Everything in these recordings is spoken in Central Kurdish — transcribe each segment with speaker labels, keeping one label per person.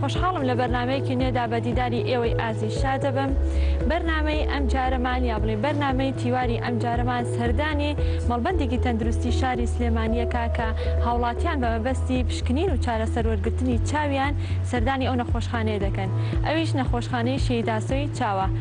Speaker 1: خۆشحاڵم لە بەرنامەیەکی نوێدا بە دیداری ئێوەی ئازیز شاد دەبم. بەرنامەی ئەمجارەمان یا بڵێین بەرنامەی تیواری ئەمجارەمان سەردانی مەڵبەندێکی تەندروستی شاری سلێمانییە کا کە هاوڵاتیان بە مەبەستی پشکنین و چارەسەر وەرگرتنی چاویان سەردانی ئەو نەخۆشخانەیە دەکەن ئەویش نەخۆشخانەی شەهید ئاسۆی چاوە.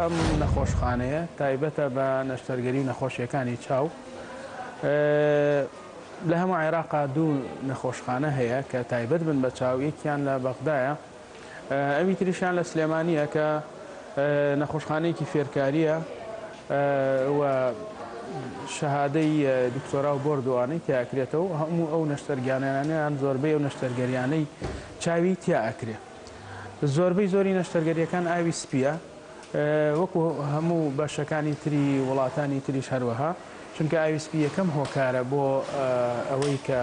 Speaker 2: ئەم نەخۆشخانەیە تایبەتە بە نەشتەرگەری و نەخۆشیەکانی چاو لە هەموو عێراقا دوو نەخۆشخانە هەیە کە تایبەت بن بە چاویەکیان لە بەغدایە ئەوی تریشیان لە سلێمانییە کە نەخۆشخانەیەکی فێرکارییە و شەهادەی دکتۆرا و بۆرد و ئانی تیا ئەکرێتەوە و هەموو ئەو نەشتەرگانیانە یان زۆربەی ئەو نەشتەرگەریانەی چاوی تیا ئەکرێ زۆربەی زۆری نەشتەرگەریەکان ئاوی سپیە وەکو هەموو بەشەکانی تری وڵاتانی تریش هەروەها چونکە ئاوی سپی یەکەم هۆکارە بۆ ئەوەی کە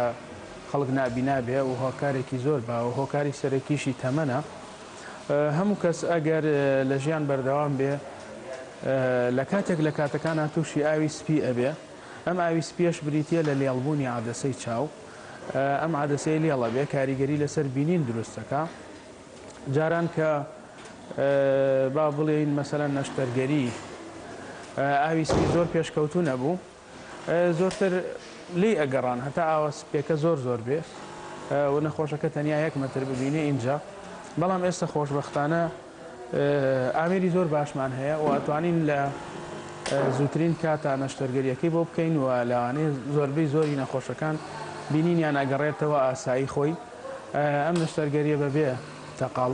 Speaker 2: خەڵک نابینا بێ و هۆکارێکی زۆر بە و هۆکاری سەرەکیشی تەمەنە. هەموو کەس ئەگەر لە ژیان بەردەوام بێ لە کاتێک لە کاتەکانا تووشی ئاوی سپی ئەبێ. ئەم ئاوی سپیەش بریتیە لە لێڵبوونی عەدەسەی چاو. ئەم عەدەسەی لێڵ ئەبێ کاریگەری لەسەر بینین دروست ئەکا. جاران کە با بڵێین مەسەلەن نەشتەرگەری ئاوی سپی زۆر پێشکەوتوو نەبوو. زۆرتر لێی ئەگەڕان هەتا ئاوە سپیەکە زۆر زۆر بێ و نەخۆشەکە تەنیا یەک مەتر ببینێ ئینجا بەڵام ئێستا خۆشبەختانە ئامێری زۆر باشمان هەیە و ئەتوانین لە زووترین کاتا نەشتەرگەریەکەی بۆ بکەین و لاوانەیە زۆربەی زۆری نەخۆشەکان بینینیان ئەگەڕێتەوە ئاسایی خۆی ئەم نەشتەرگەریە بەبێ تەقاڵ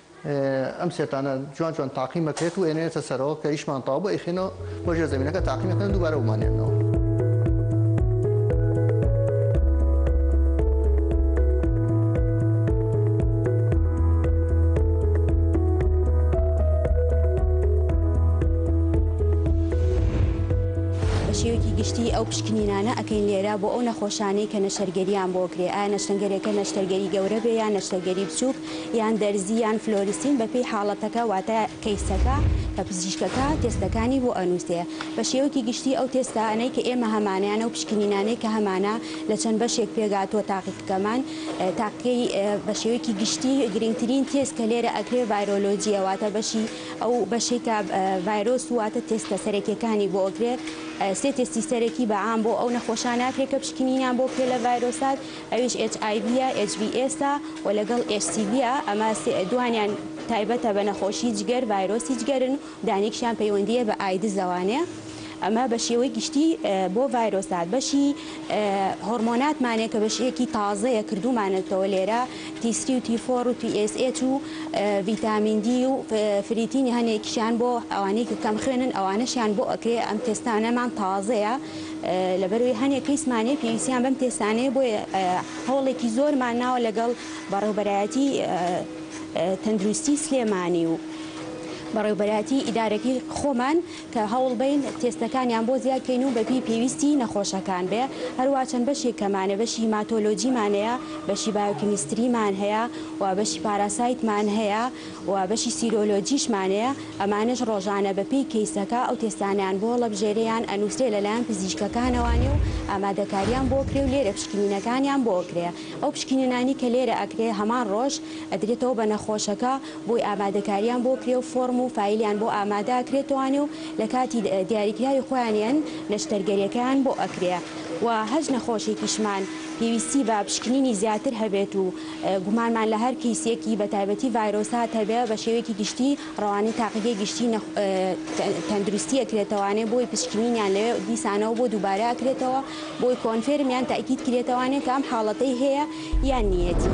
Speaker 3: ئەم سێتانە جوان جوان تاقیم ئەکرێت و ئەێنێتە سەرەوە کە ئیشمان تاو بە ئیخێنەوە بۆ ژێ زمینەکە تاقیمەکەن دووبارە ومانێنەوە.
Speaker 4: گشتی ئەو پشکنینانە ئەکەین لێرە بۆ ئەو نەخۆشانەی کە نەشتەرگەریان بۆ کرێ ئایا نەشتەنگەرێکە نەشتەرگەری گەورە بێ یا نەشتەرگەری بچووک یان دەرزی یان فلۆریسین بەپێی حاڵەتەکە واتە کەیسەکە کە پزیشکەکە تێستەکانی بۆ ئەنوسێ بە شێوەکی گشتی ئەو تێستانەی کە ئێمە هەمانەیانە و پشکنینانەی کە هەمانە لە چەند بەشێک پێکهاتووە تاقیقەکەمان تاقیی بە شێوەکی گشتی گرنگترین تێست کە لێرە ئەکرێ ڤایرۆلۆجیە واتە بەشی ئەو بەشەی کە ڤایرۆس و واتە تێستە سەرەکیەکانی بۆ ئەکرێ سێ تێستی سەرەکی بە عام بۆ ئەو نەخۆشانە ئەکرێ کە پشکنینیان بۆ کرێ لە ڤایرۆسات ئەویش ئێچ ئای ڤیە، ئێچ ڤی ئێسە، و لەگەڵ ئێچ سی ڤیە، ئەمە دوانیان تایبەتە بە نەخۆشی جگەر، ڤایرۆسی جگەرن و دانیکشیان پەیوەندییە بە ئایدز لەوانەیە ئەمە بە شێوەی گشتی بۆ ڤایرۆسات بەشی هۆڕمۆناتمانێ کە بەشێکی تازەیە کردومانەتەوە لێرە تی سری و تی فۆر و تی ئێس ئێچ و ڤیتامین دی و فریتینی هەنێکیشیان بۆ ئەوانەی کە کەم خوێنن ئەوانەشیان بۆ ئەکرێ ئەم تێستانەمان تازەیە لەبەرئەوەی هەنێ کەیسمانێ پێویستیان بەم تێستانەیە بۆیە هەوڵێکی زۆرمان ناوە لەگەڵ بەڕێوبەرایەتی تەندروستی سلێمانی و بەڕێوبەرایەتی ئیدارەکەی خۆمان کە هەوڵبەین تێستەکانیان بۆ زیاد کەین و بەپی پێویستی نەخۆشەکان بێ هەروا چەند بەشێک کەمانە بەشی هیماتۆلۆجیمانەیە بەشی بایۆکیمیستریمان هەیە و بەشی پاراسایتمان هەیە و بەشی سیرۆلۆجیشمانەیە، ئەمانەش ڕۆژانە بە پێی کەیسەکە ئەو تێستانەیان بۆ هەڵەبژێرێیان ئەنووسرێ لە لایەن پزیشکەکانەوە نێ و ئامادەکاریان بۆ کرێ و لێرە پشکنینەکانیان بۆ ئەکرێ ئەو پشکنینانەی کە لێرە ئەکرێ هەمان ڕۆژ ئەدرێتەوە بە نەخۆشەکە بۆی ئامادەکاریان بۆ کرێ و فۆڕم و فایلیان بۆ ئامادە ئەکرێتەوە نێ و لە کاتی دیاریکراوی خۆیانیان نەشتەرگەریەکەیان بۆ ئەکرێ و هەرچ نەخۆشێکیشمان پێویستی بە پشکنینی زیاتر هەبێت و گومانمان لە هەر کەیسێکی بە تایبەتی ڤایرۆسات هەبێ بە شێوەیەکی گشتی ڕەوانەی تاقیگەی گشتی تەندروستی ئەکرێتەوانێ بۆی پشکنینیان لەوێ دیسانەوە بۆ دووبارە ئەکرێتەوە بۆی کۆنفێرم یان تاکیید کرێتەوانێ کە ئەم حاڵەتەی هەیە یان نیەتی.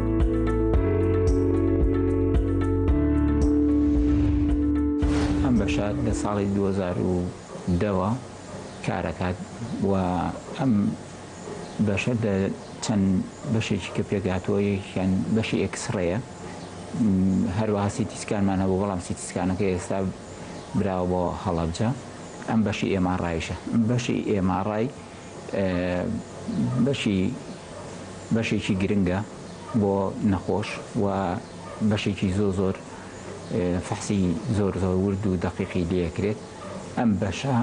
Speaker 5: ئەم بەشە لە ساڵی 2010ەوە کارەکات و ئەم بەشە لە چەند بەشێکی کە پێکهاتووە یەکیان بەشی ئێکسڕەیە هەروەها سیتیسکانمان هەبوو بەڵام سیتیسکانەکە ئێستا براوە بۆ هەڵەبجە ئەم بەشی ئێمە ڕایشە بەشی ئێمە ڕای بەشی بەشێکی گرنگە بۆ نەخۆش و بەشێکی زۆر زۆر فەحسی زۆر زۆر ورد و دەقیقی لێ ئەکرێت ئەم بەشە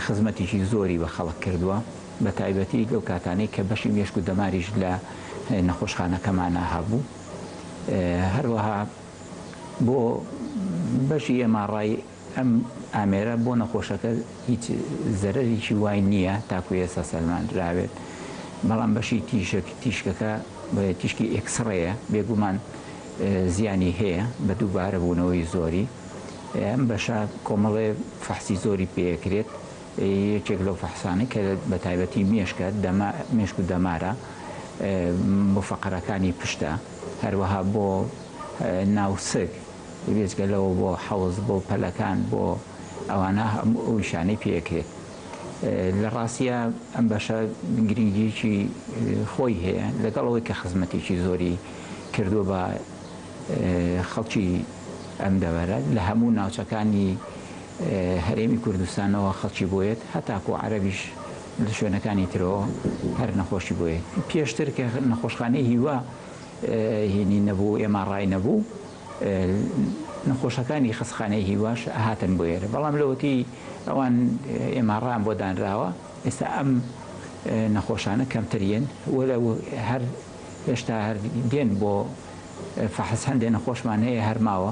Speaker 5: خزمەتیکی زۆری بە خەڵک کردووە بە تایبەتی لەو کاتانەی کە بەشی مێشک و دەماریش لە نەخۆشخانەکەمانا هەبوو هەروەها بۆ بەشی ئێماڕای ئەم ئامێرە بۆ نەخۆشەکە هیچ زەرەرێکی وای نییە تاکو ئێستا سەلماندراوێت، بەڵام بەشی تیشک تیشکەکە تیشکی ئێکسڕەیە بێگومان زیانی هەیە بە دووبارە بوونەوەی زۆری ئەم بەشە کۆمەڵێ فەحسی زۆری پێ ئەکرێت یەکێک لەو فەحسانەی کە بە تایبەتی مێشکە دەما مێشک و دەمارە بۆ فەقەرەکانی پشتە هەروەها بۆ ناوسک، بێجگە لەوە بۆ حەوز، بۆ پەلەکان، بۆ ئەوانە هەموو ئەو ئیشانەی پێ ئەکرێت. لە ڕاستیا ئەم بەشە گرنگییەکی خۆی هەیە، لەگەڵ ئەوەی کە خزمەتێکی زۆری کردووە بە خەڵکی ئەم دەڤەرە، لە هەموو ناوچەکانی هەرێمی کوردستانەوە خەڵکی بۆ یەت، هەتاکوو عەرەبیش لە شوێنەکانی ترەوە هەر نەخۆشی بۆ یەت. پێشتر کە نەخۆشخانەی هیوا، هینی نەبوو ئێماڕای نەبوو نەخۆشەکانی خەسخانەی هیواش هاتن بۆ ئێرە بەڵام لەوەتی ئەوان ئێماڕان بۆ دانراوە ئێستا ئەم نەخۆشانە کەمتریین وە لە هەر هێشتا هەر دێن بۆ فەحس هەندێ نەخۆشمان هەیە هەرماوە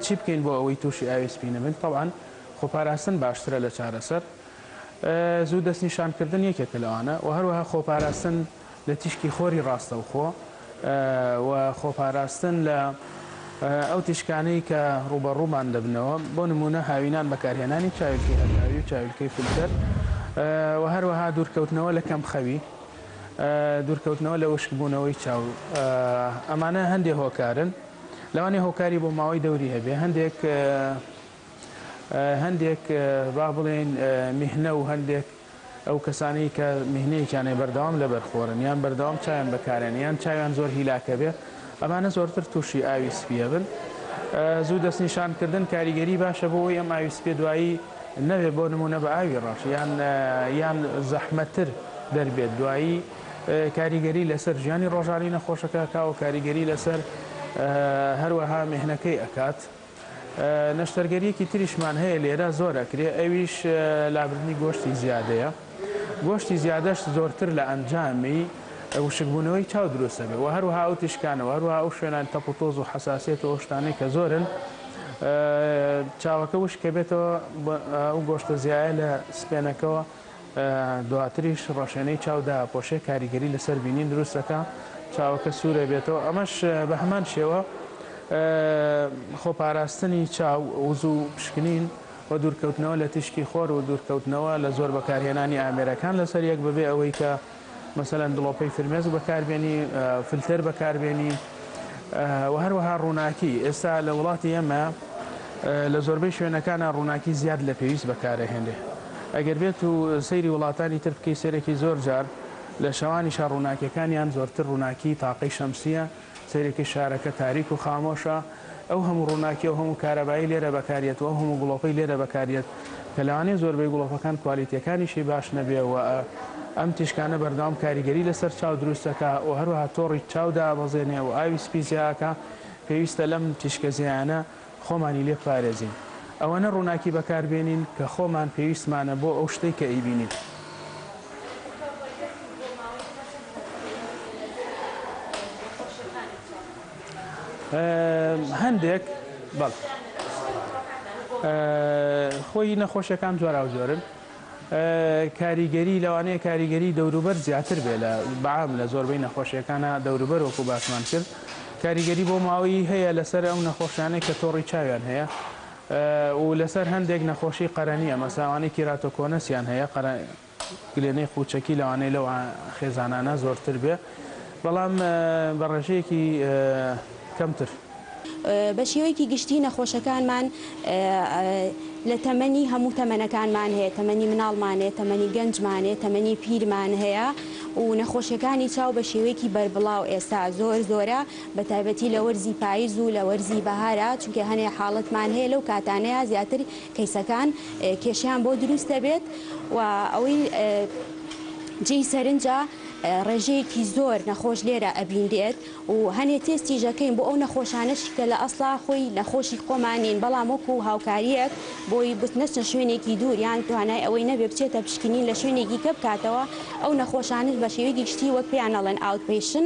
Speaker 2: چی بکەین بۆ ئەوەی تووشی ئاوی سپی نەبین؟ تەبعەن خۆپاراستن باشترە لە چارەسەر. زوو دەستنیشانکردن یەکێکە لەوانە و هەروەها خۆپاراستن لە تیشکی خۆری ڕاستەوخۆ و خۆپاراستن لە ئەو تیشکانەی کە ڕووبەڕوومان دەبنەوە، بۆ نموونە هاوینان بەکارهێنانی چاویلکەی هەتاوی و چاویلکەی فیلتەر و هەروەها دوورکەوتنەوە لە کەمخەوی، دوورکەوتنەوە لە وشکبوونەوەی چاو. ئەمانە هەندێک هۆکارن. لەوانەیە هۆکاری بۆماوەی دەوری هەبێ هەندێک هەندێک با بڵێن میهنە و هەندێک ئەو کەسانی کە میهنەیەکیانەی بەردەوام لە بەرخۆرن یان بەردەوام چایان بەکارێن یان چاویان زۆر هیلاکە بێ ئەمانە زۆرتر تووشی ئاوی سپیە بن زوو دەستنیشانکردن کاریگەری باشە بۆ ئەم ئاوی سپێ دوایی نەوێ بۆ نمونە بە ئاوی ڕەش یان یان زەحمەتر دەربێت دوایی کاریگەری لەسەر ژیانی ڕۆژانی نەخۆشەکە ئەکاو کاریگەری لەسەر هەروەها مێهنەکەی ئەکات نەشتەرگەریەکی تریشمان هەیە لێرە زۆر ئەکرێ ئەویش لابردنی گۆشتی زیادەیە گۆشتی زیادەش زۆرتر لە ئەنجامی وشکبوونەوەی چاو دروستەبێ و هەروها ئەو تیشکانەوە هەروها ئەو شوێنان تەپ و تۆز و حساسێت و ئەو شتانەی کە زۆرن چاوەکە وشکە بێتەوە ئەو گۆشتە زیایە لە سپێنەکەەوە دواتریش ڕەشێنەی چاو داپۆشێ کاریگەری لەسەر بینین دروست دەکا چاوەکە سوورە بێتەوە ئەمەش بەهەمان شێوە خۆپاراستنی چاو وزوو پشکنین و دوورکەوتنەوە لە تیشکی خۆر و دوورکەوتنەوە لە زۆر بەکارهێنانی ئامێرەکان لەسەر یەک بەبێ ئەوەی کە مەسەلەن دڵۆپەی فرمێسک بەکاربێنی، فلتەر بەکاربێنی و هەروەها ڕووناکی، ئێستا لە وڵاتی ئێمە لە زۆربەی شوێنەکانا ڕووناکی زیاد لە پێویست بەکارەهێنرێ، ئەگەر بێت و سەیری وڵاتانی تر بکەی سەیرێکی زۆر جار لە شەوانیشا ڕووناکیەکانیان زۆرتر ڕووناکی تاقەی شەمسیە، سەیرەکی شارەکە تاریک و خامۆشە، ئەو هەموو ڕووناکی، ئەو هەموو کارەبایی لێرە بەکاریەت و ئەو هەموو گڵۆپەی لێرە بەکاریەت کە لەوانەیە زۆربەی گڵۆپەکان کوالێتیەکانیشی باش نەبێ و ئەم تیشکانە بەردەوام کاریگەری لەسەر چاو دروست دەکا و هەروەها تۆڕی چاو دابەزێنێ و ئاوی سپی زیاکا، پێویستە لەم تیشکە زیایانە. خۆمانی لێ بپارێزین ئەوەنە ڕووناکی بەکار بێنین کە خۆمان پێویستمانە بۆ ئەو شتەی کە ئەیبینین. هەندێک خۆی نەخۆشیەکان جۆراوجۆرن. کاریگەری، لەوانەیە کاریگەری دەوروبەر زیاتر بێ لە بەعام لە زۆربەی نەخۆشیەکانا دەوروبەر وەکو باسمان کرد کاریگەری بۆ ماوەیی هەیە لەسەر ئەو نەخۆشانەی کە تۆڕی چاویان هەیە و لەسەر هەندێک نەخۆشی قەرەنیە مەساوانەی کیراتۆکۆنەسیان هەیە قەرە گلێنەی قوچەکی لەوانەیە لەو خێزانانە زۆرتر بێ. بەڵام بە ڕێژەیەکی کەمتر.
Speaker 4: بە شێوەیەکی گشتی نەخۆشەکانمان لە تەمەنی هەموو تەمەنەکانمان هەیە، تەمەنی مناڵمان هەیە، تەمەنی گەنجمان هەیە، تەمەنی پیرمان هەیە و نەخۆشیەکانی چاو بە شێوەیەکی بەربڵاو ئێستا زۆر زۆرە بە تایبەتی لە وەرزی پایز و لە وەرزی بەهارا چونکە هەنێ حاڵەتمان هەیە لەو کاتانەیا زیاتر کەیسەکان کێشەیان بۆ دروست دەبێت و ئەوەی جێی سەرنجە ڕێژەیەکی زۆر نەخۆش لێرە ئەبینرێت و هەنێ تێستیش ئەکەین بۆ ئەو نەخۆشانەشی کە لە ئەسڵا خۆی نەخۆشی خۆمان نین بەڵام وەکو هاوکاریەک بۆی بت نەچنە شوێنێکی دوور یان توانای ئەوەی نەبێ بچێتە پشکنین لە شوێنێکی کە بکاتەوە ئەو نەخۆشانش بە شێوەیەکی گشتی وەک پێیان ئەڵێن ئاوت پەیشن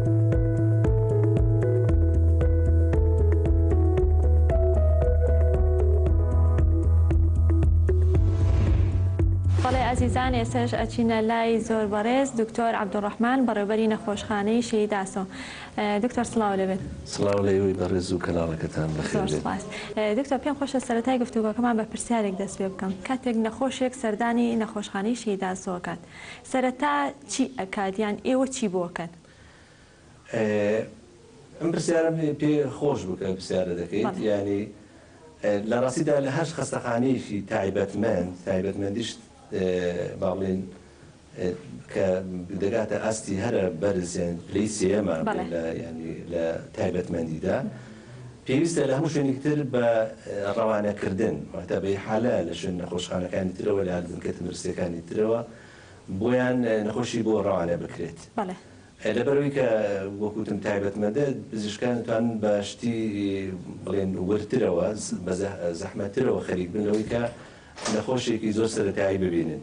Speaker 1: بەڵێ ئازیزان ئێسش ئەچینە لای زۆر بەڕێز دکتۆر عبدڕحمان بەڕێبەری نەخۆشخانەی شەیداسۆ دکتۆر سلااو لەبێت سلااو لەوەی بەڕێز
Speaker 6: و کەناڵەکەتان دکتۆر پێم خۆشە
Speaker 1: سەرای گفتوگەکەمان بە پرسیارێک دەست پێ بکەم کاتێک نەخۆشێک سەردانی نەخۆشخانەی شەیداسۆکات سەرەتا چی ئەکات یان ئێوە چی بۆ ئەکەن؟
Speaker 6: ئە م پرسیارە پێ خۆش بوو کە پرسیارە دەکەیت یانی لە ڕاستیدا لە هەر خەستەخانەیەکی تایبەتمەند تایبەتمەندیش با بڵێن کە دەگاتە ئاستی هەرە بەرز یان پلەی سێیەمە لە تایبەتمەندیدا پێویستە لە هەموو شوێنێکی تر بە ڕەوانەکردن، مەکتەبەی حالە، لە شوێن نەخۆشخانەکانی ترەوە، لە هەردەمکە تەندروستییەکانی ترەوە بۆیان نەخۆشی بۆ ڕەوانە بکرێت. بەڵێ. لەبەرئەوەی کە وەکو وتم تایبەتمەندە، پزیشکان دەتوانن بە شتی بڵێن وردترەوە، بە زەحمەتترەوە خەریک بن لەوەی کە نەخۆشێکی زۆر سەرەتایی ببینن.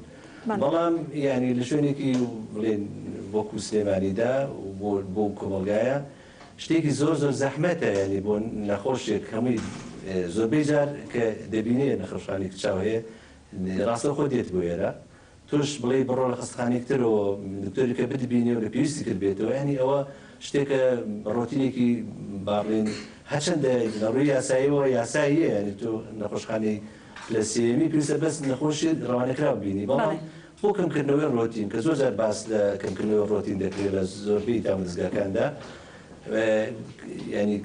Speaker 6: بەڵام یانی لە شوێنێکی بڵێن وەکو سلێمانیدا و بۆ ئەو کۆمەڵگایە شتێکی زۆر زۆر زەحمەتە یانی بۆ نەخۆشێک هەمووی زۆربەی جار کە دەبینێ نەخۆشخانەیەک چاو هەیە ڕاستەوخۆ دێت بۆ ئێرە تۆش بڵێی بڕۆ لە خەستەخانەیەک ترەوە دکتۆرێکە بتبینێ و لە پێویستی تر بێتەوە یانی ئەوە شتێکە ڕۆتینێکی باڕین هەرچەندە لە ڕووی یاساییەوە یاساییە یانی تۆ نەخۆشخانەی پلە سێیەمی پێویستە بەس نەخۆشێت ڕەوانەکراو بینی بەڵام بۆ کەمکردنەوەی ڕۆتین کە زۆر جار باس لە کەمکردنەوەی ڕۆتین دەکرێت لە زۆربەی دامەزگاکاندا یانی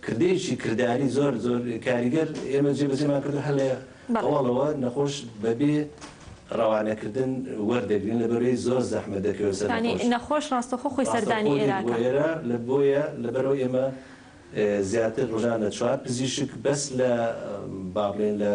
Speaker 6: کردەیەکی کرداری زۆر زۆر کاریگەر ئێمە جێبەجێمان کردو هەر لە هەواڵەوە نەخۆش بەبێ ڕەوانەکردن وەردەگرین لە بەرەی زۆر زەحمە دەکەوێت سەر نەخۆش ڕاستەخۆ
Speaker 1: خۆی سەردانی ئێرە لە بۆیە
Speaker 6: لە بەرەوە ئێمە زیاتر ڕژانە چوار پزیشک بەس لە با بڵێن لە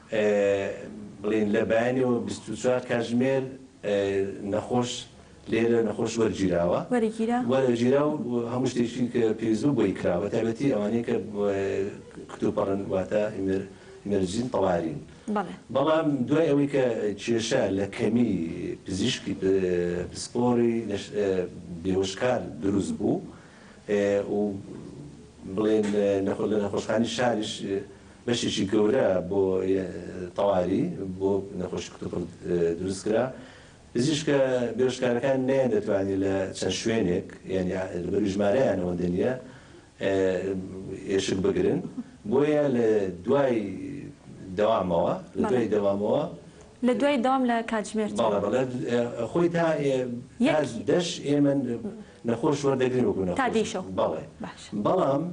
Speaker 6: بڵێن لە بەیانیەوە بیست و چوار کاتژمێر نەخۆش لێرە نەخۆش وەرگیراوە وەرگیرا و هەموو شتێکی کە پێویست بوو بۆی کرا بە تایبەتی ئەوانەی کە کتوپڕن واتە ئیمەرجین تەوارین بەڵام دوای ئەوەی کە کێشە لە کەمی پزیشکی پسپۆری بێوشکار دروست بوو و بڵێن لە نەخۆشخانی شاریش بەشێکی گەورە بۆ تەواوی بۆ نەخۆشی کتوپڕ دروست کرا، پزیشکە بێهۆشکارەکان نەیان دەتوانی لە چەند شوێنێک یانی لەبەروی ژمارەیان ئەوەندە نیە ئێشک بگرن بۆیە لە دوای دەوامەوە لە دوای دەوامەوە
Speaker 1: لە دوای دەوام لە کاتژمێر بەڵێ بەڵێ
Speaker 6: خۆی تا یەک دەش ئێمە نەخۆش وەردەگرین وەکو نەخۆش تا دەی شەو بەڵێ
Speaker 1: بەڵام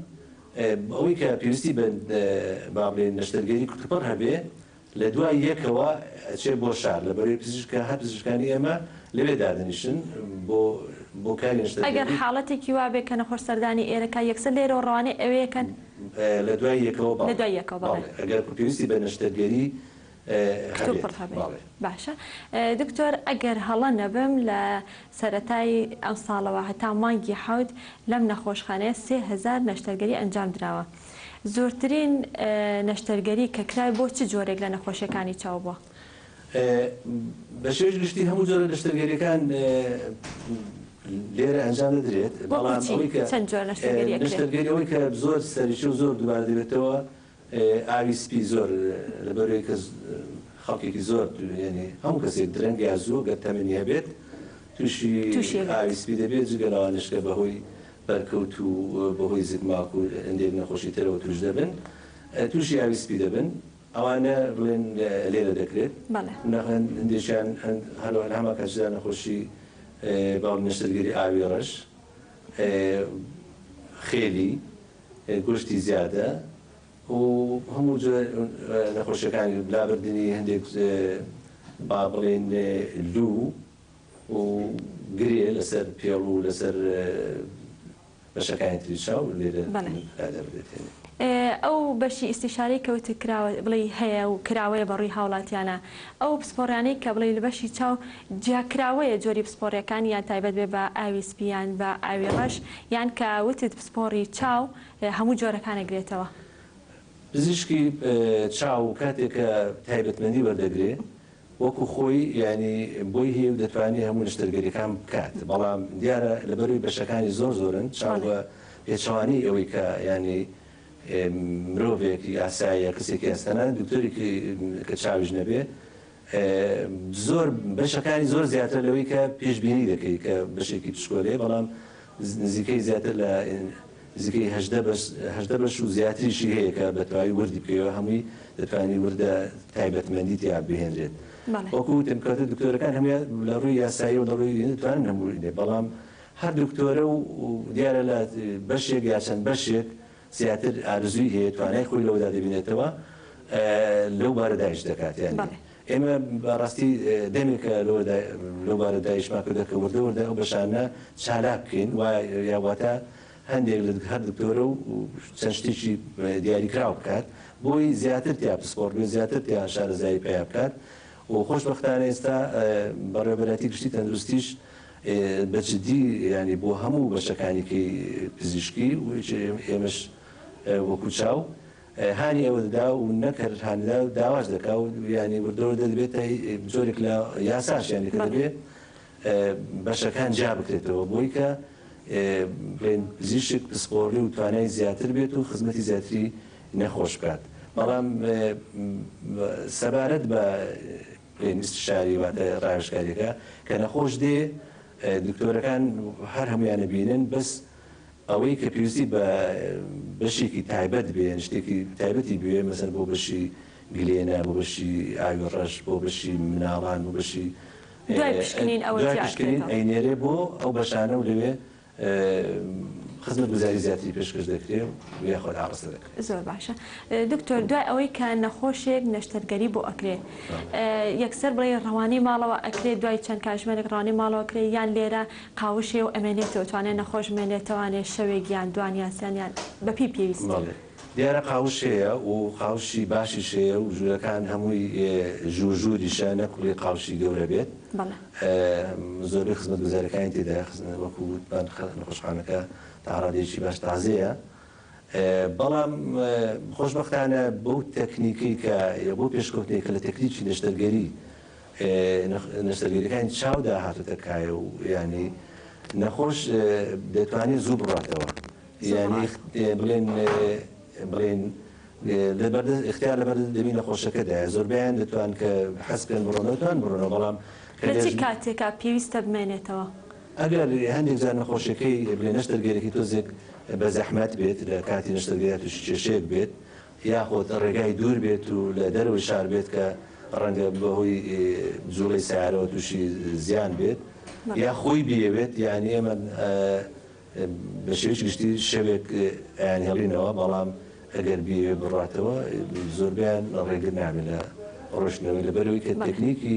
Speaker 6: ئەوەی کە پێویستی بە با بڵێین نەشتەرگەری کوتوپڕ هەبێ لە دوای یەکەوە ئەچێ بۆ شار لە بەرەی پزیشکە هەر پزیشکانی ئێمە لەوێ دادەنیشن بۆ بۆ کاری نەشتەرگەری. ئەگەر حاڵەتێکی وا
Speaker 1: بێ کە نەخۆش سەردانی ئێرە کا یەکسەر لێرەوە ڕەوانەی ئەوێ ئەکەن؟ لە دوای
Speaker 6: یەکەوە بەڵێ. لە دوای یەکەوە بەڵێ. بەڵێ ئەگەر پێویستی بە نەشتەرگەری هەبێت بەڵێ.
Speaker 1: باشە دکتۆر ئەگەر هەڵە نەبم لە سەرەتای ئەمساڵەوە هەتا مانگی حەوت لەم نەخۆشخانەیە سێ هەزار نەشتەرگەری ئەنجام دراوە زۆرترین نەشتەرگەری کە کرای بۆ چ جۆرێک لە نەخۆشیەکانی چاو بووە؟ بە شێوەی
Speaker 6: گشتی هەموو جۆرە نەشتەرگەریەکان لێرە ئەنجام دەدرێت بەڵام ئەوەی کە نەشتەرگەری ئەوەی کە زۆر سەرەکی و زۆر دووبارە دەبێتەوە ئاوی سپی زۆر لەبەروەی کە خەڵکێکی زۆر یانی هەموو کەسێک درەنگ یا زوو گەر تەمەنی هەبێت تووشی ئاوی سپی دەبێت جگە لەوانەش کە بەهۆی بەرکەوت و بەهۆی زگماک و هەندێک نەخۆشی ترەوە تووش دەبن تووشی ئاوی سپی دەبن ئەوانە بڵێن لێرە دەکرێت هەندێکیان هەروە لە هەمان کاتشدا نەخۆشی باڵی نەشتەرگەری ئاوی ڕەش خێلی، گۆشتی زیادە و هەموو جۆرە نەخۆشیەکانی لابردنی هەندێک با بڵێین لوو و گرێ لەسەر پێڵ و لەسەر بەشەکانی تری چاو لێرە لادەبرێت. ئەو
Speaker 1: بەشی ئیستیشارەی کە وتت کراوە بڵێی هەیە و کراوەیە بە ڕووی هاوڵاتیانە ئەو پسپۆڕیانەی کە بڵێی لە بەشی چاو جیا کراوەیە جۆری پسپۆڕیەکان یان تایبەت بێ بە ئاوی سپی یان بە ئاوی ڕەش یان کە وتت پسپۆڕی چاو هەموو جۆرەکان ئەگرێتەوە؟ پزیشکی چاو کاتێک کە
Speaker 6: تایبەتمەندی وەردەگرێ وەکو خۆی یانی بۆی هەیە و دەتوانێ هەموو نەشتەرگەریەکان بکات بەڵام دیارە لەبەروی بەشەکانی زۆر زۆرن چاو بە پێچەوانەی ئەوەی کە یانی مرۆڤێک یاسایە کەسێکی یاستەنە دکتۆرێکی کە چاویش نەبێ زۆر بەشەکانی زۆر زیاتر لەوەی کە پێشبینی دەکەی کە بەشێکی پشکۆلەیە بەڵام نزیکەی زیاتر لە نزیکەی هەژدە بەش هەژدە بەش و زیاتریشی هەیە کە بەتەواوی وردی بکەیەوە هەمووی دەتوانانی وردە تایبەتمەندی تیا بهێنرێت وەکو وتم کەوتە دکتۆرەکان هەموویان لە ڕووی یاسایی و لە ڕووی دەتوانن هەموو دێ بەڵام هەر دکتۆرە و دیارە لە بەشێک یا چەند بەشێک زیاتر ئارزووی هەیە توانای خۆی لەوەدا دەبینێتەوە لەو بارەدایش دەکات یانی ئێمە بە ڕاستی دەمێکە لەوەدا لەو بارە دایشمان کردوە کە وردە وردە ئەو بەشانە چالاک بکەین و یا واتە هەندێک لە هەر دکتۆرە و چەند شتێکی دیاریکراو بکات بۆی زیاتر تیا پسپۆڕ بێ زیاتر تیا شارەزایی پیا بکات و خۆشببختانە ئێستا بەڕێبەراتی گشتی تەندروستیش بە جدی ینی بۆ هەموو بەشەکانیکەی پزیشکی و ئێمەش وەکو چاو هانی ئەوە دەدا و نەک هەر هان دەدا داواش دەکا و یانی وردەوردە دەبێتە جۆرێک لە یاساش یانی کە دەبێ بەشەکان جیا بکرێتەوە بۆی کە بڵێن پزیشک پسپۆڕی و توانای زیاتر بێت و خزمەتی زیاتری نەخۆش بکات بەڵام سەبارەت بە استشاری واتە ڕاوێژکاریەکە کە نەخۆش دێ دکتۆرەکان هەر هەمویانە بینن بەس ئەوەی کە پێویستی بە بەشێکی تایبەت بێ یان شتێکی تایبەتی بوێ مەسەن بۆ بەشی گلێنە بۆ بەشی ئاوی ڕەش بۆ بەشی مناڵان بۆ بەشی دوای پشکنین
Speaker 1: ئەوە دوای پشکنین ئەینێرێ بۆ
Speaker 6: ئەو بەشانە و لەوێ خزمەت گوزاری زیاتری پێشکەش دەکرێ و یاخۆد ئاڕاستە دەکرێت زۆر باشە
Speaker 1: دکتۆر دوای ئەوەی کە نەخۆشێک نەشتەرگەری بۆ ئەکرێ یەکسەر بڵێ ڕەوانەی ماڵەوە ئەکرێت دوای چەند کاژمێرێک ڕانەی ماڵەوە کرێ یان لێرە قاوشێ و ئەمێنێتەوە توانێ نەخۆش بمێنێ توانێ شەوێک یان دوان یان سێن یان بەپی پێویستی. بەڵێ دیارە
Speaker 6: قاوشێیە و قاوشی باشیش هەیە و ژوورەکان هەمووی ژوور ژووریشە نەک کوڵی قاوشی گەورە بێت بەڵێ. زۆربەی خزمەتگوزاریەکانی تێدایە خزمەت وەکو وتمان نەخۆشخانەکە تاڕادەیەکی باش تازەیە بەڵام خۆشبەختانە بەو تەکنیکەی کە یا بەو پێشکەوتنەی کە لە تەکنیکی نەشتەرگەری نەشتەرگەریەکانی چاودا هاتۆتە کایە و یانی نەخۆش دەتوانێت زوو بڕاتەوە یانی بڵێن بڵێن لەبەردەست اختیار لەبەردەست دەمی نەخۆشەکەدایە زۆربەیان دەتوان کە حەز بکەن بڕۆنەوە توان بڕۆنەوە بەڵام لە چ کاتێکا
Speaker 1: پێویستە بمێنێتەوە؟ ئەگەر
Speaker 6: هەندێک جار نەخۆشیەکەی بلێ نەشتەرگەرێکی تۆزێک بە زەحمەت بێت لە کاتی نەشتەرگەریا توشی کێشەیەک بێت یاخود ڕێگای دوور بێت و لە دەرەوەی شار بێت کە ڕەنگە بەهۆی جوڵەی سارەوە توشی زیان بێت یا خۆی بیەوێت یعنی ئێمە بە شێوەیەکی گشتی شەوێک ئەیان هێڵینەوە بەڵام ئەگەر بیەوێ بڕاتەوە زۆربیان ڕێگر نابێت لە ڕۆشتنەوەی لەبەرەوەی کە تەکنیکی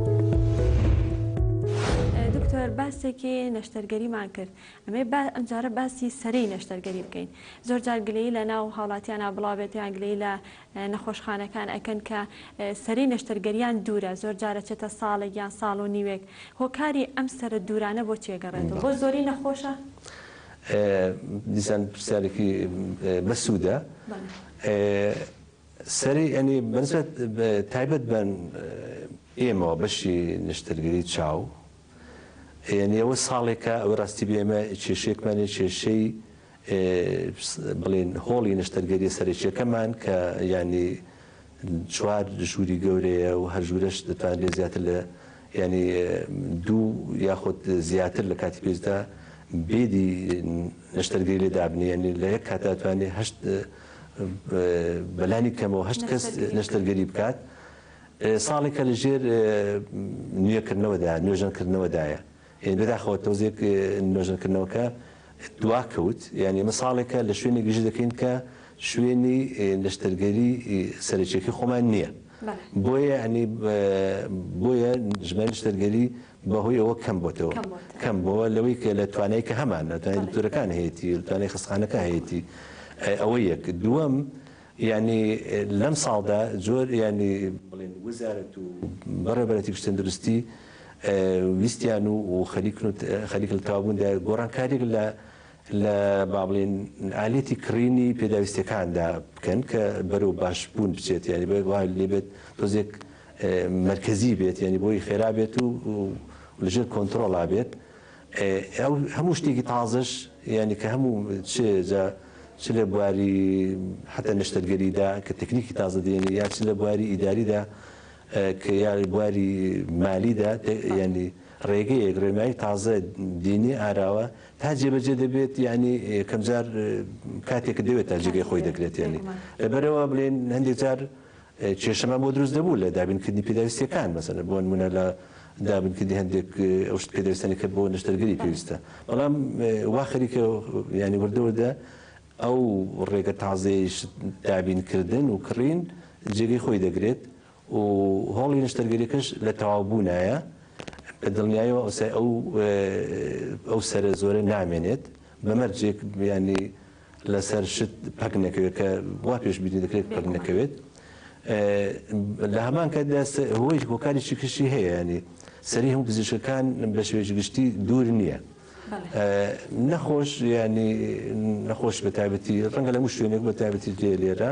Speaker 1: دکتۆر باسێکی نەشتەرگەریمان کرد ئەمێ با ئەمجارە باسی سەرەی نەشتەرگەری بکەین زۆر جار گلەی لە ناو هاوڵاتیانە بڵاوێت یان گلەی لە نەخۆشخانەکان ئەکەن کە سەری نەشتەرگەریان دوورە زۆر جارە چێتە ساڵێک یان ساڵ و نیوێک هۆکاری ئەم سرە دوورانە بۆ چێگەڕێت بۆ زۆری نەخۆشە
Speaker 6: دیسان پرسیارێکی بەسوودە سەری ئەنی بەنسبەت تایبەت بە ئێمەوە بەشی نشتەرگەری چاو یعنی ئەوە ساڵێکە ئەوە ڕاستی بێمە کێشێکمانێ کێشەی بڵێن هۆڵی نشتەرگەری سەرێکیەکەمان کە ینی چوار ژووری گەورەیە و هەر ژوورەش دەتوان لێ زیاتر لە ینی دوو یاخود زیاتر لە کاتی پێستدا بێدی نشتەرگەری لێ دابنی ینی لە یەک کاتاتوانێ هەشت بەلانی کەمەوە هەشت کەس نەشتەرگەری بکات ساڵێکە لە ژێر نوێکردنەوەدا نوێژەنکردنەوەدایە یعنی بەداخەوە تۆزێک نوێژەنکردنەوەکە دوا کەوت یعنی ئمە ساڵێکە لە شوێنێک گژی دەکەین کە شوێنی نەشتەرگەری سەرچێکی خۆمان نییە بۆیە ینی بۆیە ژمای نشتەرگەری بەهۆی ئەوە کەم بۆتەوە کەم بۆە لەوەی کە لە توانای کە هەمان ناتوانانی دکتۆرەکان هەیەی توانای خستخانەکە هەیەی ئەوە یەک دووەم ینی لەم ساڵدا زۆر ینی بڵێن وزارەت و بەڕێبەرەتی پشتندروستی ویستیان و خەریکن خەریکل تاوبووندا گۆڕانکاریێک لە لە با بڵێین ئالەتی کڕینی پێداویستیەکاندا بکەن کە بەرەو باش بوون بچێت یاری بە وا لێبێت تۆزێک مرکزی بێت یعنی بۆی خێرا بێت و لەژێر کۆنتترۆڵا بێت ئەو هەموو شتێکی تازەش یعنی کە هەموو چ چ لە بواری حتا نشتەرگەریدا کە تەکنیکی تازە دێنێ یا چ لە بواری ئیداریدا کە یاری بواری مالیدا ینی ڕێگەیەک ڕێمای تازە دینی ئاراوە تا جێبەجێ دەبێت یانی یەکەم جار کاتێک دەوێت تا جێگەی خۆی دەگرێت یانی لەبەرەوە بڵێن هەندێک جار کێشەمان بۆ دروست دەبوو لە دابینکردنی پێداویستەکان مەسەنە بۆن منە لە دابنکردی هەندێک ئەو شت پێدەستانی کە بۆ نشتەرگەری پێویستە بەڵام وا خەریکە ینی وردەوردە ئەو ڕێگە تازەیش دابینکردن و کڕین جێگەی خۆی دەگرێت و هۆڵی نەشتەرگەریەکەش لە تەواو بوونایە، بە دڵنیایەوە ئەوسای ئەو ئەو سەرە زۆرە نامێنێت، بە مەرجێک یانی لە سەر شت پەک نەکەوێت کە وا پێش بینی دەکرێت پەک نەکەوێت. لە هەمان کاتدا هۆی هۆکاری شکشی هەیە ینی سەری هەموو پزیشکەکان بە شێوەیەکی گشتی دوور نییە نەخۆش ینی نەخۆش بە تایبەتی ڕەنگە لە موو شوێنێک بە تایبەتی لێ لێرە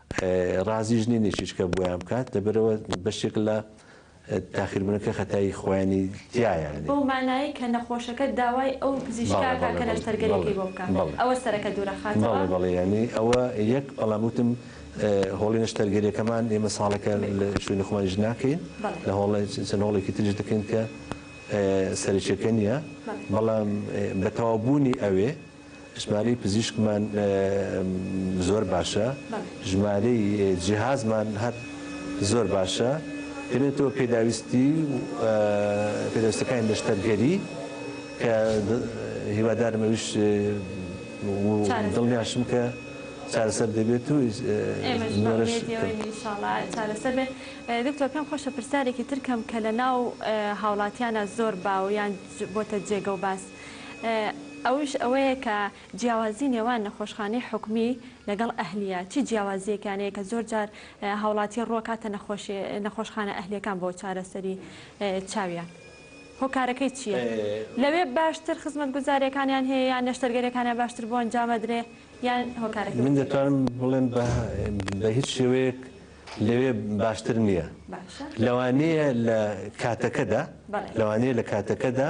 Speaker 6: ڕازیش نین هیچیچکە بۆیان بکات لەبەرئەوە بەشێک لە تاخیربونەکە خەتای خۆیانی تیایە. بەو مانایەی کە
Speaker 1: نەخۆشەکە داوای ئەو پزیشکە ئەکات کە نەشتەرگەریەکەی بۆ بکات ئەوە سەرەکە دورەخاتەوە؟ بەڵێ بەڵێ یانی ئەوە
Speaker 6: یەک بەڵام وتم هۆڵی نەشتەرگەریەکەمان ئێمە ساڵێکە لە شوێنی خۆمانیش ناکەین لە هۆڵێ چەند هۆڵێکی تریش دەکەین کە سەرەکیەکە نیە بەڵام بەتەواو بونی ئەوێ ژمارەی پزیشکمان زۆر باشە ژمارەی جیهازمان هەر زۆر باشە دەبێتەوە پێداویستی پێداستەکانی نەشتەرگەری کە هیوادارم ئەوش دڵنیاشم کە چارەسەر دەبێت و چارەسەر
Speaker 1: بێت دکتۆر پێم خۆشە پرسیارێکی ترکەم کە لە ناو هاوڵاتیانە زۆر باو یان بۆتە جێگە و باس ئەوش ئەوەیە کە جیاوازی نێوان نەخۆشخانەی حکومی لەگەڵ ئەهلیە چی جیاوازیەکیان هەیە کە زۆر جار هاوڵاتی ڕوەکاتە نەخۆشخانە ئەهلیەکان بۆ چارەسەری چاویان هۆکارەکەی چیە لەوێ باشتر خزمەت گوزاریەکانیان هەیە یان نەشتەرگەریەکانیان باشتر بۆ ئەنجامەدرێ یان هۆکارەکەی من دەتوانم بڵێم
Speaker 6: بە هیچ شێوەیەک لەوێ باشتر نیە لەوانەیە لە کاتەکەدا لەوانەیە لە کاتەکەدا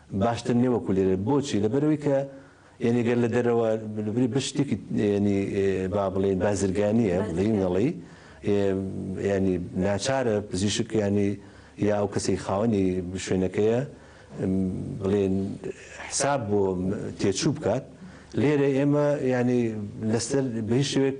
Speaker 6: باشتر نیە وەکو لێرە بۆچی لەبەرەوەی کە یەنی گەر لە دەرەوە بری بە شتێکی یەنی با بڵێن بازرگانیە بڵین نەڵی ینی ناچارە پزیشک ینی یا ئەو کەسی خاوەنی شوێنەکەیە بڵێن حساب بۆ تێچوو بکات لێرە ئێمە ینی لەسەر بەی شوێک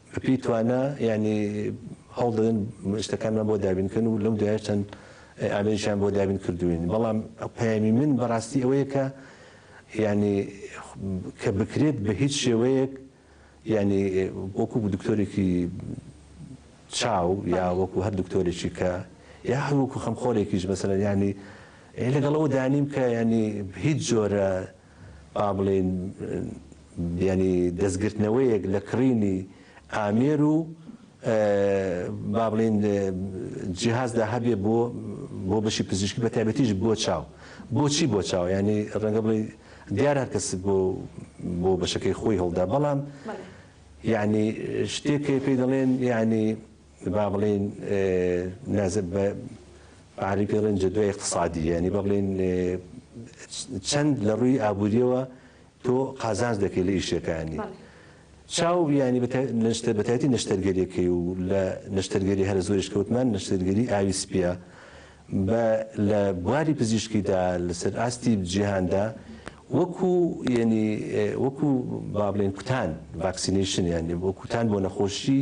Speaker 6: بەپێی توانا یانی هەوڵ دەدەن شتەکانمان بۆ دابین بکەن و لەم دوایەش چەند ئامێرێکیان بۆ دابین کردووین بەڵام پەیامی من بەڕاستی ئەوەیە کە یانی کە بکرێت بە هیچ شێوەیەک یانی وەکو دکتۆرێکی چاو یا وەکو هەر دکتۆرێکی کە یا هەروەکو خەمخۆرێکیش مەسەلەن یانی لەگەڵەوە دانیم کە یانی هیچ جۆرە با بڵێین یانی دەستگرتنەوەیەک لە کڕینی ئامێر و با بڵێین جیهازدا هەبێ بۆ بۆ بەشی پزیشکی بە تایبەتیش بۆ چاو بۆچی بۆ چاو ینی ڕەنگە بڵێ دیار هەر کەس بۆ بۆ بەشەکەی خۆی هەڵدا بەڵام یعنی شتێک پێی دەڵێن یعنی با بڵێین بەعەرەبی پێ دەڵێن جەدوەی اقتصادی یانی با بڵێین چەند لە ڕووی ئابووریەوە تۆ قازانج دەکەی لە ئیشەکانی. چاو بیانی نشتە بەتایەتی نشتەرگەریەکەی و لە نشتەرگەری هەر زۆریش کەوتمان نشتەرگەری ئاوی سپیە بە لە بواری پزیشکیدا لەسەر ئاستی جیهاندا وەکو ینی وەکو بابلێن کوتان ڤاکسینیشن یانی بۆ کوتان بۆ نەخۆشی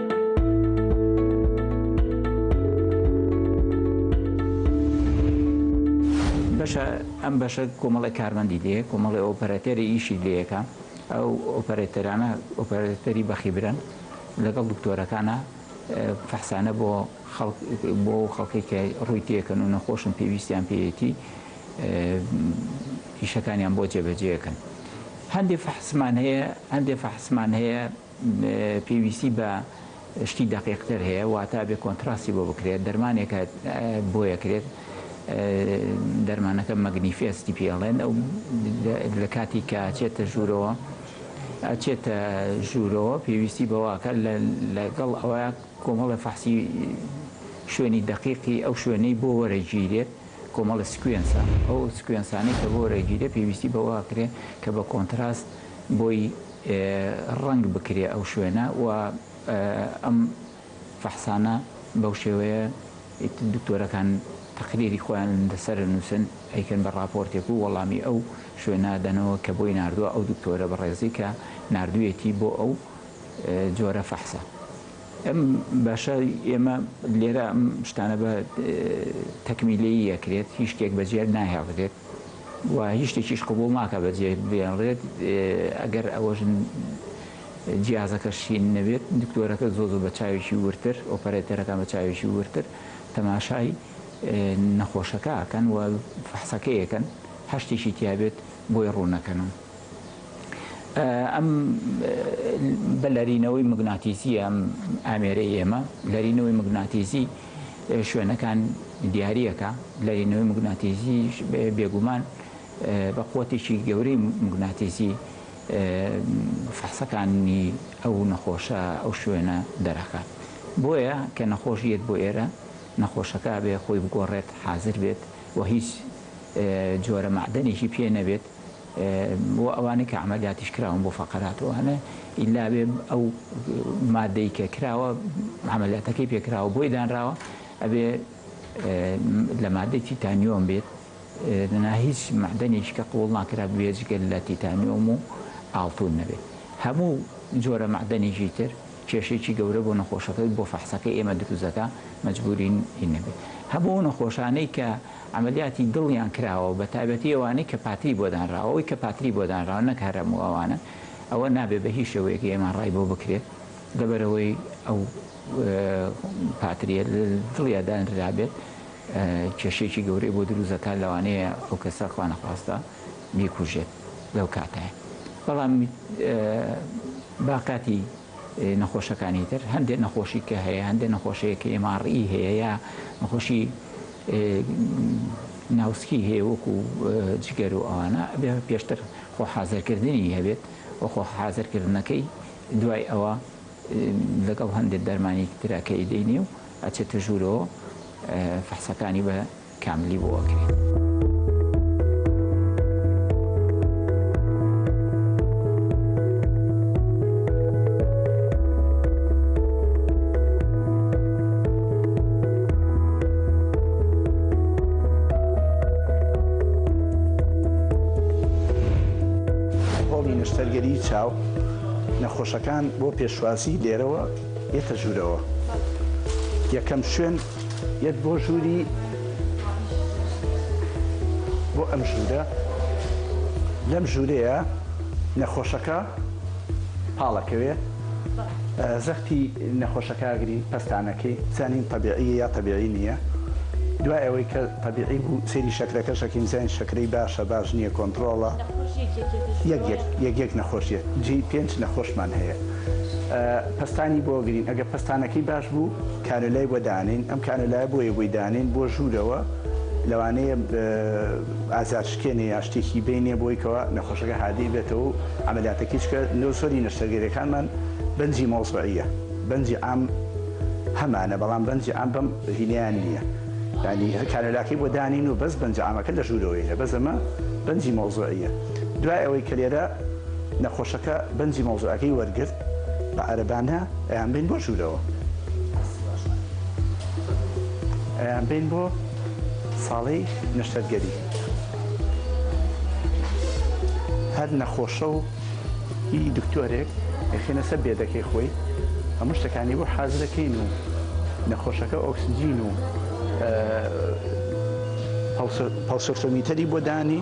Speaker 5: بەشە ئەم بەشە کۆمەڵی کارمەندی لێ کۆمەڵی ئۆپەراتێری ئیشی لەکە ئەو ئۆپەراتەرانە ئۆپەراتەری بەخیبرن لەگەڵ دکتۆرەکانە فەحسانە بۆ بۆ خەڵکی کە ڕووی تێکەن و نەخۆشن پێویستیان پێیەتی ئیشەکانیان بۆ جێبەجێکن هەندێک فەحسمان هەیە هەندێک فەحسمان هەیە پێویستی بە شتی دەقیقتر هەیە واتا ئەبێ کۆنتڕاستی بۆ بکرێت دەرمانێکە بۆیە کرێت دەرمانەکە مەگنیفێستی پێ ئەڵێن ئەو لە کاتی کە چێتە ژوورەوە ئەچێتە ژوورەوە پێویستی بەواکە لەگەڵ ئەوە کۆمەڵە فەحسی شوێنی دەقیقی ئەو شوێنەی بۆ وەرەگیرێت کۆمەڵە سکوێنسە ئەو سکوێنسانی کە بۆ وەرەگیرێت پێویستی بەواکرێت کە بە کۆنتڕاست بۆی ڕەنگ بکرێ ئەو شوێنە و ئەم فەحسانە بەو شێوەیە ئیتر دکتۆرەکان تەقریری خۆیان لەسەر ئەنووسن ئەیکەن بە ڕاپۆرتێک و وەڵامی ئەو شوێنە ئەدەنەوە کە بۆی ناردووە ئەو دکتۆرە بەڕێزەی کە ناردوویەتی بۆ ئەو جۆرە فەحسە ئەم باشە ئێمە لێرە ئەم شتانە بە تەکمیلەیی ئەکرێت هیچ شتێک بەجێ ناهێڵرێت. و هیچ شتێکیش قبوڵ ناکات بەجێ بێنرێت ئەگەر ئەوەش جیازەکە شین نەبێت دکتۆرەکە زۆر زۆر بە چاوێکی وردتر ئۆپەرەیتەرەکان بە چاوێکی وردتر تەماشای نەخۆشەکە ئەکەن و فەحسەکەی ئەکەن هەر شتێکی تیابێت بۆی ڕوون ئەکەنەوە ئەم بە لەرینەوەی مگناتیزی ئەم ئامێرەی ئێمە لەرینەوەی مگناتیزی شوێنەکان دیاریەکە لەرینەوەی موگناتیزی بێگومان بە قوتێکی گەورەی موگناتیزی فەحسەکانی ئەو نەخۆشە ئەو شوێنە دەرەکات بۆیە کە نەخۆش یەت بۆ ئێرە نەخۆشەکە بێ خۆی بگۆڕێت حازر بێت و هیچ جۆرە مەعدەنێکی پێ نەبێت بۆ ئەوانەی کە عەمەلیاتیش کراون بۆ فەقەرات و ئەوانە ئیلا بێ ئەو مادەی کە کراوە عەمەلیاتەکەی پێ کراوە بۆی دانراوە ئەبێ لە مادەی تیتانیۆم بێت نا هیچ مەعدەنێکی کە قووڵ ناکرا بێجگە لە تیتانیۆم و ئاڵتون نەبێت هەموو جۆرە مەعدەنێکی تر کێشێکی گەورە بۆ نەخۆشەکە بۆ فەحسەکەی ئێمە دروست دەکا مەجبوورین هی نەبێت هەموو نەخۆشانەی کە عەمەلیاتی دڵیان کراوە بە تایبەتی ئەوانەی کە پاتری بۆ دانراوە ئەوەی کە پاتری بۆ دانراوە نەک هەر هەموو ئەوانە ئەوە نابێت بە هیچ شێوەیەک ئێم ئاڕ ئای بۆ بکرێت لەبەرئەوەی ئەو پاتریە لە دڵیا دانرابێت کێشەیەکی گەورەی بۆ دروست دەکات لەوانەیە ئەو کەسە خوانەخواستە بیکوژێت لەو کاتەیە بەڵام باقاتی نەخۆشەکانی تر هەندێک نەخۆشی کە هەیە هەندێک نەخۆشەیە کە ئێم ئاڕ ئی هەیە یا نەخۆشی ناوسکی هەیە وەکو جگەر و ئەوانە ئەبێ پێشتر خۆ حازرکردنی هەبێت و خۆ حازرکردنەکەی دوای ئەوە لەگەڵ هەندێک دەرمانی ترەکەی دەینێ و ئەچێتە ژوورەوە فەحسەکانی بە کاملی بۆ ئەکرێت.
Speaker 7: نەشتەرگەری چاو نەخۆشەکان بۆ پێشوازی لێرەوە یەتە ژوورەوە یەکەم شوێن یەت بۆ ژووری بۆ ئەم ژوورە لەم ژوورەیە نەخۆشەکە پاڵەکەوێ زەختی نەخۆشەکە ئاگری پەستانەکەی زانین تەبیعیە یا تەبیعی نیە دوای ئەوەی کە تەبیعی بوو سەیری شەکرەکەش ئەکەین زانین شەکرەی باشە باش نیە کۆنتڕۆڵە یەک یەک یەک یەک نەخۆش یەت جێی پێنج نەخۆشمان هەیە پەستانی بۆ گرین ئەگە پەستانەکەی باش بوو کانۆلای بۆ دانین ئەم کانۆلای بۆیە بۆی دانین بۆ ژوورەوە لەوانەیە ئازارشکێنێ یا شتێکی بینێ بۆی کەوا نەخۆشەکە هادیئ بێتەوە و عەمەلیاتەکەی چکە لۆ زۆری نەشتەرگەریەکانمان بەنجی مەوزعیە بەنجی عام هەمانە بەڵام بەنجی عام بەم هینیان نیە یانی هەر کانۆلاکەی بۆ دانین و بەس بەنجە عامەکە لە ژورەوەیلە بەس ئەمە بەنجی مەوزعیە دوای ئەوەی کە لێرە نەخۆشەکە بەنجی مەوزعەکەی وەرگرت بە عەرەبانە ئەیان بەین بۆ ژوورەوە ئەیان بەین بۆ ساڵی نەشتەرگەری هەر نەخۆشە و ئی دکتۆرێک ئەخێنە سەر بێدەکەی خۆی هەموو شتەکانی بۆ حازرەکەین و نەخۆشەکە ئۆکسجین و پەڵسۆرتۆمیتەری بۆ دانی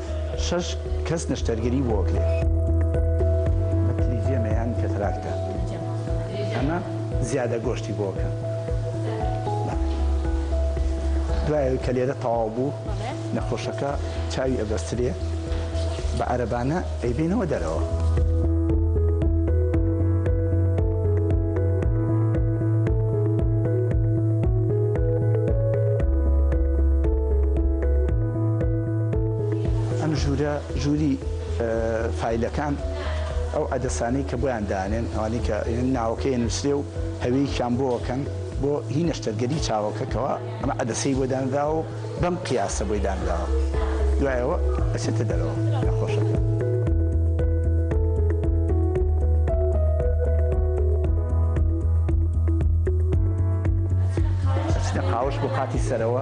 Speaker 7: شەش کەس نەشتەرگەری بۆ ئەکرێ. ئەمە تلیفێمە یان کەتراکتە؟ ئەمە زیادە گۆشتی بۆ ئەکەن. دوای ئەوەی کە لێرە تەواو بوو نەخۆشەکە چاوی ئەبەسترێ بە عەرەبانە ئەیبێنەوە دەرەوە. ئەم ژوورە ژووری فایلەکان ئەو عدەسانەی کە بۆیان دانێن ئەوانەی کە ناوەکەی نووسێ و هەویەکیان بۆەکەن بۆ هی نەشتەرگەری چاوەکەکەەوە ئەمە عدەسەی بۆ دانراوە و بەم قیاسە بۆی دانراوە دوایەوە ئەچێتە دەرەوە نەخۆشەکە قاوش بۆ قاتی سەرەوە